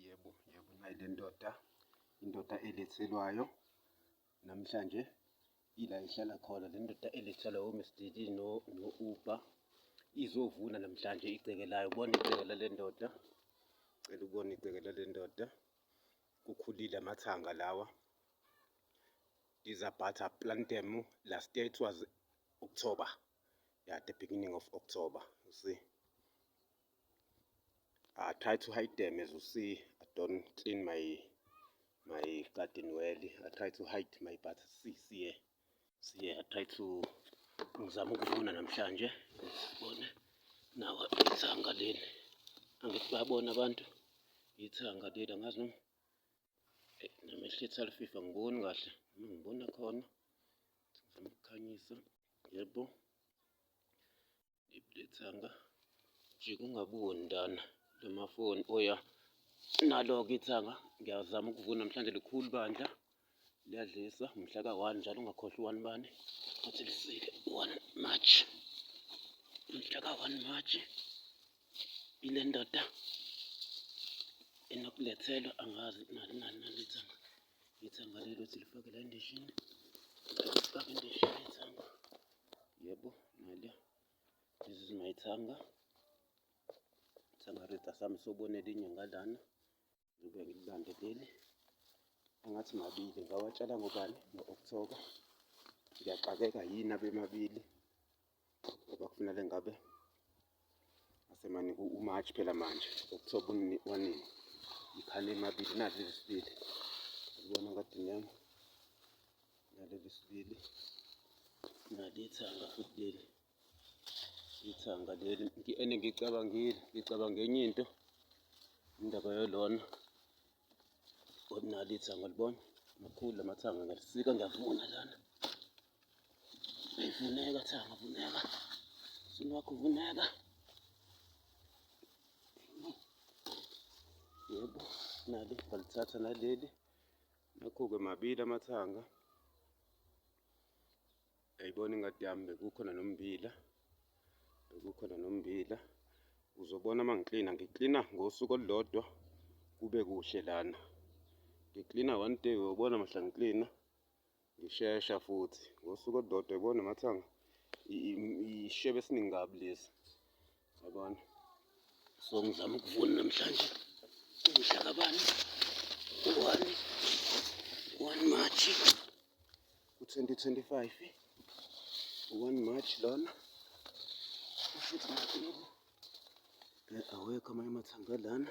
Yebo, yebo nayi le ndoda, indoda elethelwayo namhlanje ila ihlala khona le ndoda elethelwa o-Miss DD no-Uber izovuna namhlanje igceke layo. Ubona igceke lale ndoda, cela ubone igceke lale ndoda, kukhulile amathanga lawa. These are butter, plant them last year it was October, yeah the beginning of October, you see. I try to hide them as you see I don't clean my my garden well I try to hide my but see see here see here I try to ngizama ukuvuna namhlanje sibone nawa ithanga leli angithi bayabona abantu ithanga leli angazi noma eh, namehlo ethi alififa ngiboni kahle noma ngibona khona ngizama ukukhanyisa yebo Ibudethanga jika ungabuwo ndana lamafoni oya nalo-ke ithanga ngiyazama ukuvuna namhlanje likhulu bandla liyadlisa mhla ka-one njalo ungakhohlwa u-one bani athi lisike one march mhla ka-one march ile ndoda enokulethelwa angazi nani nani nani ithanga ithanga lelo ukuthi lifake la endishini lifake endishini ithanga Yebo, nale. This is my thanga. Thanga rita sami sobona elinye ngalana. Ngibe ngilibambe leli. Angathi mabili ngawatshala ngobani ngo-October. Ngiyaxakeka yini abemabili ngoba kufanele ngabe asemane uMarch phela manje October unini wanini ikhale emabili nazi lesibili ubona kade nyama naleli sibili nalithanga futhi leli ithanga leli ene ngicabangile ngicabanga enye into indaba yolona Ordinary ithango libona makhulu lamathanga ngalisika ngiyavuna lana. Vuneka thanga vuneka. Sini wakho vuneka. Yebo nali ngalithatha naleli. Nakho-ke mabili amathanga. Yayibona ingadi yami bekukhona nommbila. Bekukhona nommbila. Uzobona uma ngiklina. Ngiklina ngosuku olulodwa kube kuhle lana. Ngiklina one day uyobona mhla ngiklina. Ngishesha futhi. Ngosuku olulodwa yibona mathanga ishebe esiningi kabi lesi. Yabona. So ngizama ukuvuna namhlanje. Umhla kabani? One. One March. U-2025. One March lona. Ushuthi nakho. Awekho amanye amathanga lana.